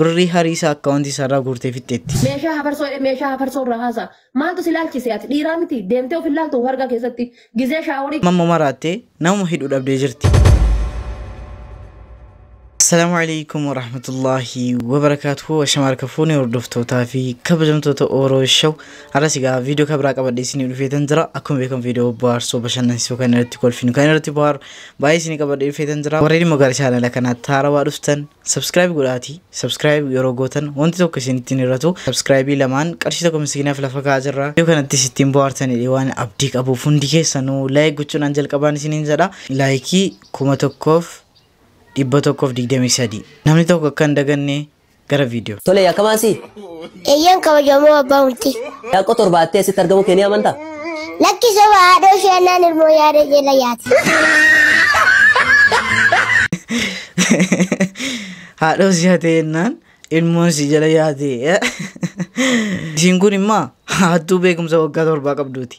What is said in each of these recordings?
Birrii harii isaa account isaarraa guurtee fixxeetti. Meeshaa hafarsoo jedhe meeshaa hafarsoo irraa haasa'a. Maaltu si laalchise ati dhiiraa miti deemtee of hin laaltu of argaa keessatti gizee shaaworii. Amma immoo maraattee namuma hidhu dhabdee jirti. Assalaamu alaikum warahmatullaahi wabarakaatuhu ashama harka fuune hordoftootaa fi kabajamtoota Oro Show har'as egaa viidiyoo kan biraa qabadhee isinii dhufeetan jira akkuma beekamu viidiyoo bohaarsoo bashannansiisuu kan irratti kolfinu kan irratti bohaaru baay'ee isinii qabadhee dhufeetan jira warreen immoo gara chaanala kanaa taarawaa dhuftan Subscribe godhaati subscribe yeroo gootan wanti tokko isinitti hin hir'atu subscribe lamaan qarshii tokko miskiinaaf lafa kaa'aa jirra yoo kanatti sittiin bohaartanidha waan abdii qabuuf hundi keessanuu like gochuudhaan jalqabaan isiniin jedha laayikii kuma tokkoof dhibba tokkoof digdamii sadii namni tokko akka hin daganne gara viidiyoo Tole yakkamaa si. Eeyyeen kabajamoo abbaa murtii. Daaqqoo torba attee asitti argamuu kee ni amantaa? Lakki soba haadhoo ishee annaan ilmoo yaada jala yaate. Haadhoo si hatee jennaan ilmoon si jala yaate. Isiin kun immoo hattuu beekumsa waggaa torbaa qabduuti.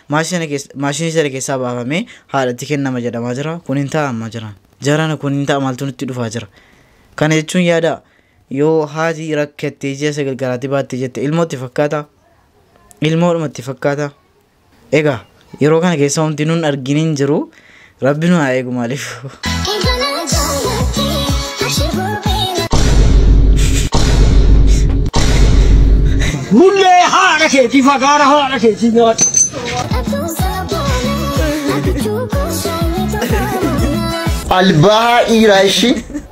Maashinii sana keessaa baafamee haadhatti kennama jedhamaa jira. Kun hin ta'a amma jira. Jarana kun hin ta'a maaltu nutti dhufaa jira. Kana jechuun yaada yoo haati rakkattee ji'a sagal garaatti baattee jette ilmootti fakkaata. Ilmoodhumatti fakkaata. Egaa yeroo kana keessa wanti nun argin hin jiru. Rabbi nu haa eegu maaliif. Mullee haadha keetii fagaara haadha keetii nyaata. Albaa dhiiraa ishii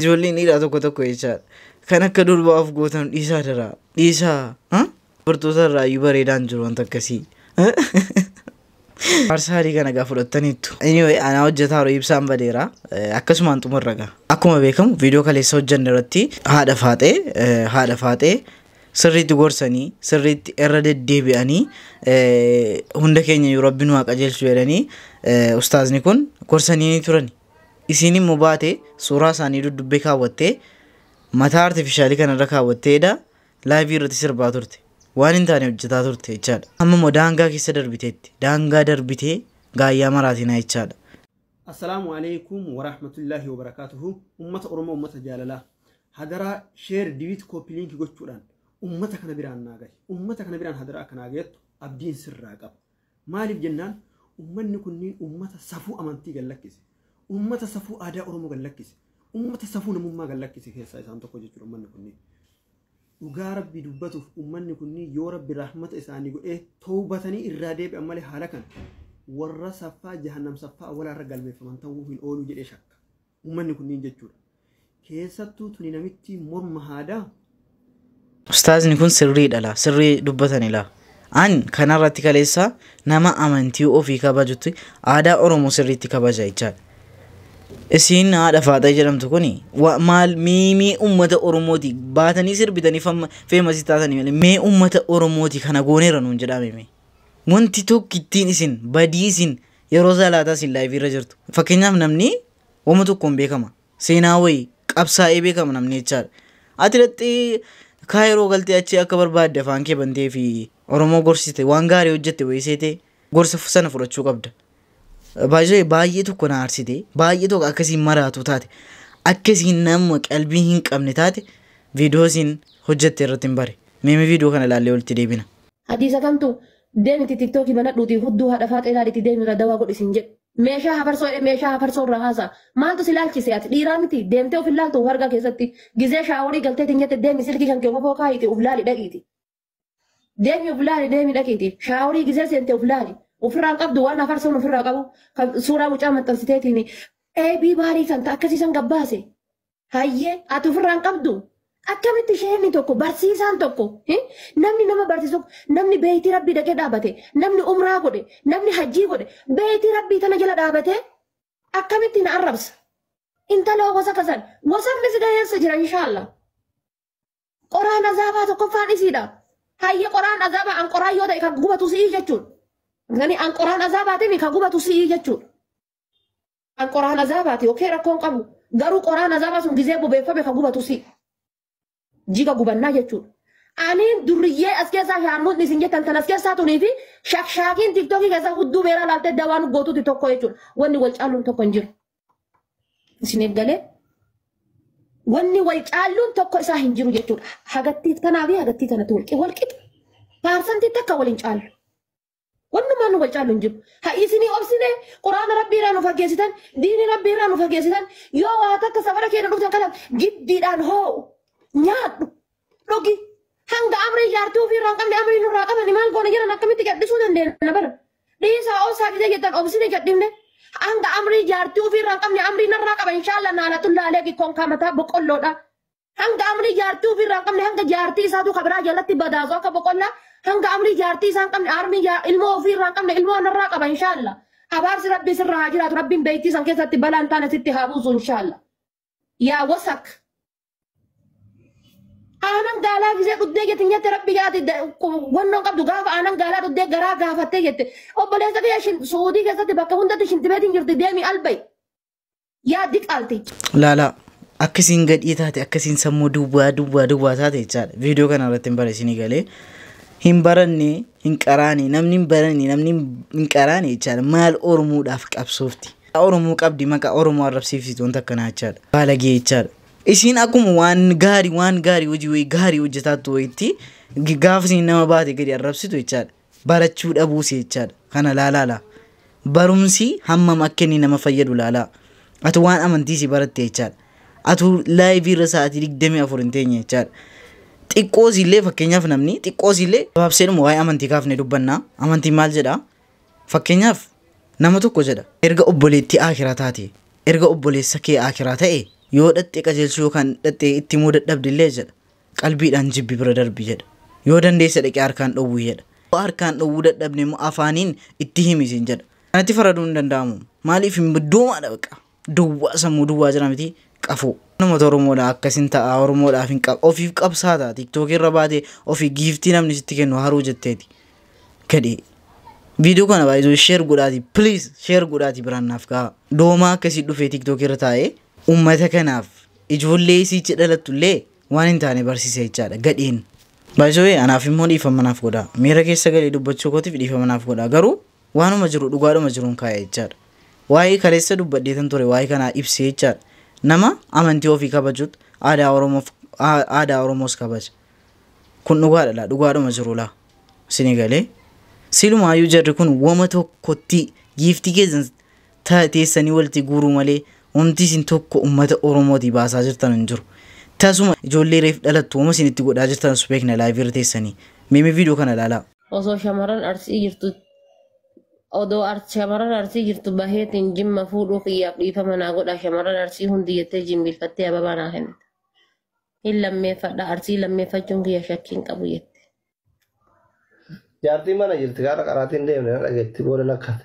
Ijoolleen dhiiraa tokko tokko jechaadha. Kan akka durbaa of gootan dhiisaa daraa. Dhiisaa. Dubartoota irraa iyyuu bareedaan jiru wanta akkasii. Faarsaa adii kana egaa fudhattaniittu. Anyway, anaa hojjetaa yeroo ibsaan badeera. Akkasumaan xumurra egaa. Akkuma beekamu viidiyoo kaleessa hojjenne irratti haadha faaxee eh, haadha faaxee sirriitti gorsanii sirriitti irra deddeebi'anii eh, hunda keenya yoo rabbi nu haa qajeelchu jedhanii eh, ustaazni kun gorsanii turani. Isiin immoo baatee suuraa isaanii duddubbee kaawwattee mataa artifishaalii kana irra kaawwattee edaa laayivii irratti sirbaa turte. Waan hin taane hojjetaa turte jechaadha. Amma immoo daangaa keessa darbiteetti. Daangaa darbitee gaayyaa maraatinaa jechaadha. Assalaamu aleykum warahmatullaahi wabarakaatuhu ummata oromoo ummata jaalalaa hadaraa sheer diwiit koopiliinki gochuudhaan ummata kana biraan naa gahi ummata kana biraan hadaraa akka naa gayattu abdiin sirraa qaba Maaliif jennaan ummanni kunniin ummata safuu amantii gad lakkise, ummata safuu aadaa Oromoo gad lakkise, ummata safuu namummaa gad lakkise keessaa isaan tokko jechuudha ummanni kunniin. Dhugaa Rabbii dubbatuuf ummanni kunniin yoo Rabbi rahmata isaanii godhee tawbatanii irraa deebi'an malee haala kana warra saffaa jahannam saffaa awwalaarra galmeeffaman ta'uu hin ooluu jedhee shakka. Uummanni kunniin jechuudha. Keessattuu tuni namittii morma haadaa. Ustaazni kun sirrii dhala sirrii dubbatani laa. An kanarratti kaleessa nama amantii ofii kabajutti aadaa Oromoo sirriitti kabaja jechaadha. Isiin haadha faaxee jedhamtu kuni wa- maal miimii uummata Oromooti baatanii sirbitanii famma- feemasii taatanii malee mee uummata Oromooti kana gooneera nuun jedhaame mee. Wanti tokko ittiin isin badii isin yeroo salaataa isin laayivii irra jirtu fakkeenyaaf namni wama tokkoon beekama seenaa wayii qabsaa'ee beekama namni jechaadha ati dhaxxee kaa yeroo galtee achi akka barbaadde afaan kee bantee fi oromoo gorsite waan gaarii hojjette wayii seete gorsa fu- sana fudhachuu qabda baay'ee baay'ee tokko na aarsite baay'ee tokko akkasiin maraatu taate akkasiin nama qalbii hin qabne taate viidiyoo isin hojjette irratti hin bare meemee viidiyoo kana ilaallee walitti deebina. Hadiisa kamtu Demiti tiktoki banadhuti huddu hadha faaxee laaditi demira dawa godhi sin jedhu. Meeshaa hafarsoo jedhe meeshaa hafarsoo irraa haasa. Maaltu si laalchise ati dhiiraa miti deemtee of hin laaltu of argaa keessatti. Gizee shaaworii galtee tin jette deemi silkii kan kee ofafoo kaayiti of laali dhaqiiti. Deemi of laali deemi dhaqiiti. Shaaworii gizee seente of laali. Ofirraan qabdu waan hafarsoon ofirraa qabu kan suuraa mucaa maxxansiteetiin eebii baarii kan ta akkasiisan gabbaase. Hayyee ati ofirraa hin qabdu. Akkamitti sheekni tokko barsiisaan tokko eh, namni nama barsiisu tokko, namni beeytii rabbii dhaqee dhaabate namni umraa godhe namni hajjii godhe beeytii rabbii tana jala dhaabate akkamitti na arrabsa. Intaloo gosa kasan gosanni si gaheessa jira inshaallah. Qoraan azaabaa tokkoffaan isiidha. Hayye qoraan azaabaa an qoraan yoo ta'e kan gubatu si'ii jechuudha. Gani an qoraan azaabaatiin kan gubatu si'ii jechuudha. An qoraan azaabaati ok rakkoo hin qabu garuu qoraan azaabaa sun gizee bobeeffame ka gubatu si jiga gubannaa jechuudha. Aniin durriyyee as keessaa shaarmuutni isin jettan tan as keessaa tunii fi shakshaakiin tiktokii keessaa hudduu beeraa laaltee dawaa nu gootuuti tokko jechuudha. Wanni wal caalluun tokko hin jiru. Isin eeggalee wanni wal caalluun tokko isaa hin jiru jechuudha. Hagattii tanaa fi hagattii tanatti wal qixa. Paarsantii takka wal hin caallu. Wannumaan nu wal caalu hin jiru. Ha isinii obsine quraana rabbii irraa nu fageessitan, diini rabbii irraa nu fageessitan, yoo waa takka safara keenya dhuftan kana giddiidhaan hoo'u, nyaadhu, dhugi. Hanga amrii jaartii ofii irraa hin qabne amrii nurraa qabani maal goona jedhan akkamitti gadhisuu dandeenya bara. Dhiisaa obsaa didee jettan obsine gadhifne. Hanga amrii jaartii ofii irraa hin qabne amrii narraa qaba inshaallah naalatullaa aleegi konkaa mataa boqqolloodha. Hanga amrii jaartii ofii irraa hin qabne hanga jaartii isaatu kan biraa jalatti badaasu akka boqonnaa hanga amrii jaartii isaa hin qabne armii jaa- ilmoo ofii irraa hin qabne ilmoo narraa qaba inshaalla. Abaarsi rabbii sirra haa jiraatu rabbiin beeytii san keessatti balaan taane sitti haa buusu inshaalla. Yaa wasak. Aanan gaalaa gisee dhuddee jetti nyatte rabbi yaati wannoon qabdu gaafa aanan gaalaa dhuddee garaa gaafattee jette. Obboleessa kiyya shin suudii keessatti bakka hundatti shintibeetiin jirti deemi albay. yaa diqaalti. Laalaa akka isin gadhii taate akka isin sammuu duwwaa duwwaa duwwaa taate jechaadha. Viidiyoo kana irratti hin bara isinii galee. Hin baranne hin qaraane namni hin baranne namni hin qaraane jechaadha. Maal Oromoodhaaf qabsoofti. Oromoo qabdi maqaa Oromoo arrabsiifsitu wanta akkanaa jechaadha. Baalagee jechaadha. Isin akkuma waan gaarii waan gaarii hojii wayii gaarii hojjetaattu wayitti gaafa isin nama baate gadi arrabsitu jechaadha. barachuu dhabuusi jechaadha. Kana laalaa laa. Barumsi hammam akka inni nama fayyadu laalaa. Ati waan amantii si baratte jechaadha. Atu laayivii irra sa'aatii digdamii afur hin teenye jechaadha. Xiqqoos illee fakkeenyaaf namni xiqqoos illee gabaabseedhuma waa'ee amantii kaafnee dubbannaa. Amantiin maal jedhaa? Fakkeenyaaf nama tokko jedha. Erga obboleettii aakiraa taate, erga obboleessa kee aakiraa ta'e yoo dhaxxee qajeelchuu yookaan dhaxxee itti himuu dadhabde illee jedha. Qalbiidhaan jibbi bira darbi jedha. Yoo dandeesse dhaqii harkaan dhowwi jedha. Yoo harkaan dhowwuu dadhabde immoo afaaniin itti himi siin jedha. Kanatti faraduun hin danda'amu. Maaliif hin doomaadha baqa. Duwwaa sammuu duwwaa jira miti qafoo. Namota Oromoodha akkasin ta'a Oromoodhaaf hin qab ofiif qabsaata tiktookii irra baate ofii giiftii namni sitti kennu haruu jetteeti gadhee viidiyoo kana baay'isuu sheer godhaati please sheer godhaati biraan naaf ga'a doomaa akkasii dhufee tiktookii irra taa'ee Ummata kanaaf ijoollee isiichi dhalattu illee waan hin taane barsiisa jechaadha gadheen. By the way anaaf immoo dhiifama naaf godhaa. Miira keessa galee dubbachuu kootiif dhiifama naaf godhaa. Garuu waanuma jiru dhugaadhuma jiruun kaa'e jechaadha. Waa'ee kaleessa dubbadheetan ture waa'ee kanaa ibsee jechaadha. Nama amantii ofii kabajuut aadaa Oromoof aa- aadaa Oromoos kabaja. Kun dhugaadha laa dhugaadhuma jiru laa. Isinii galee. Silumaayyuu jarri kun woma tokkotti giiftii keessan ta teessanii walti guuruu malee wamti isin tokko ummata oromooti baasaa jirtan hin jiru tasuma ijoollee reef dhalattu wama isin itti godhaa jirtan subeekna live irra teessanii mee mee video kana ilaalaa. Osoo shamaran arsii jirtu odoo ar shamaran arsii jirtu baheetiin jimma fuudhuu kiyyaaf dhiifama naa godhaa shamaran arsii hundi jettee jimbiilfattee ababaa naa kennite. Hin lammeeffadha arsii lammeeffachuun kiyya shakkii hin qabu jette. Jaartiin mana jirti gaara qaraatiin deemne na dhageetti booda nakkate.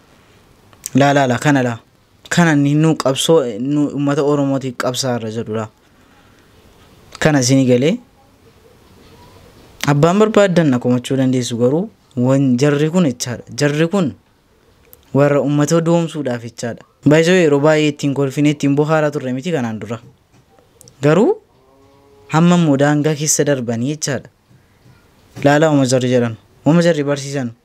laa laa laa kana laa kana inni nu qabsoo nu uummata oromootiif qabsaa irra jedhu laa kana isinii galee abbaan barbaaddan na komachuu dandeessu garuu wan jarri kun jechaadha jarri kun warra uummata doomsuudhaaf jechaadha baay'isoo yeroo baay'ee ittiin kolfinee ittiin bohaaraa turre miti kanaan dura garuu hamma immoo daangaa keessa darbanii jechaadha laalaa uma jarri jedhan uma jarri barsiisan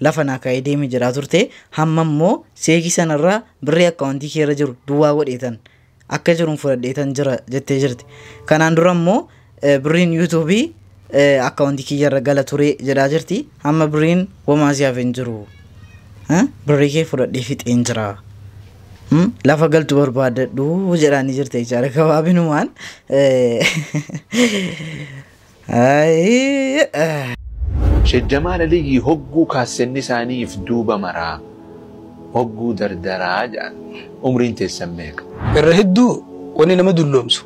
lafa naa kaa'ee deeme jedhaa turte hamma immoo seekii sanarraa birrii akkaawuntii kee irra jiru duwwaa godheetan akka jiruun fudhadheetan jira jettee jirti kanaan dura immoo eh, birriin yuutuubii eh, akkaawuntii kiyya irra gala ture jedhaa jirti hamma birriin wamaa siyaaf hin jiru Eh, birrii kee fudhadhee fixeen jira Hmm? lafa galtu barbaadadhu jedhaanii jirte jechaadha gabaabinumaan Eh, Sheek Jamaal Aliyyii hogguu kaassenni isaanii if duuba maraa hogguu dardaraa jedhan umriin teessan meeqa? Irra hedduu wanni nama dulloomsu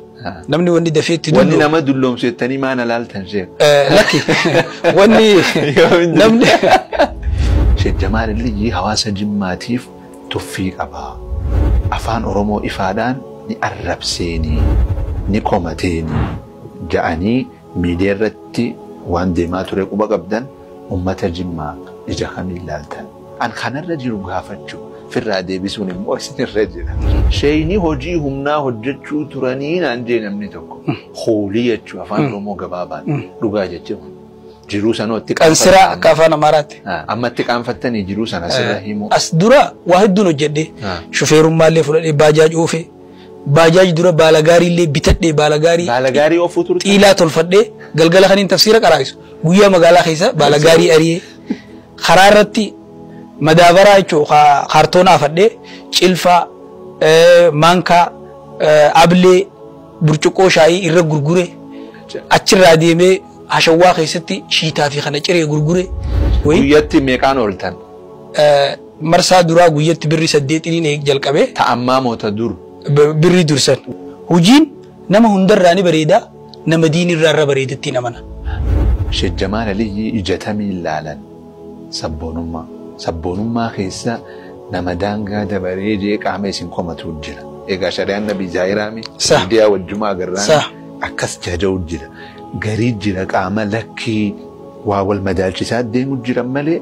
namni wanni dafee itti Wanni dulloomu nama dulloomsu jettanii maa na laaltan sheek? Eh, lakki wanni Yoo hin namni Sheek Jamaal Aliyyii hawaasa Jimmaatiif tuffii qaba. Afaan Oromoo ifaadhaan ni arrabseeni, ni komateeni. ja'anii miidiyaa irratti waan deemaa ture quba qabdan ummata jimmaa ija kamiin laaltan? An kanarra jiru gaafachuu firraa deebisuun immoo isinirra jira. Sheeyni hojii humnaa hojjechuu turanii naan jee namni tokko. Hoolii jechuu afaan Oromoo gabaabaan dhugaa jechuu jiruu sanoo itti Kan siraa akka afaan Amaaraatti. Amma itti qaanfattanii jiruu sana sirra himuu. As dura waa hedduun hojjedhe. Shufeerummaa illee fudhadhee baajaaji oofe. Baajaaj dura baala gaarii illee bitadhee baala gaarii Baala gaarii oofuu turte? xiilaa tolfadhee galgala kaniin tafsiira qaraa'isu guyyaa magaalaa keessa baala gaarii ariyee karaa irratti madaabaraa jechuun kaartoona afadhee cilfaa eh, maankaa eh, ablee burcuqqoo shaayii irra gurgure achirraa deemee hashawwaa keessatti shiitaa fi kana ciree gurgure. Wayii, Guyyatti meeqaan ooltan? eh, Marsaa duraa guyyatti birri saddeetiniin eeg jalqabe. Ta ammaa moo ta dur? Birrii dur san. Hujiin nama hundarraa ni bareeda, nama diin irraa irra bareedattiin amana. Sheek Jamaal Aliyyii ija tamiin laalan sabboonummaa? Sabboonummaa keessa nama daangaa dabaree jeeqaa mee isin komatu jira. Egaa shari'aan Nabii Zaahiraa mii? Sah. Miidiyaa wajjuma agarraan Sah. akkas jaja'u jira. Garii jira qaama lakkii waa wal madaalchisaa deemu jiran malee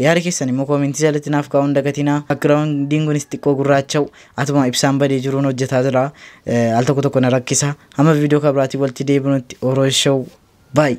Yaada keessan immoo koomentii jalatti naaf kaa'uu hin dagatinaa. Background'n kunis xiqqoo gurraacha'u atuma ibsaan badee jiruun hojjetaa jira. Al tokko tokko na rakkisa. Hamma viidiyoo kan biraatiin walitti deebinutti Oroo Show. Bye!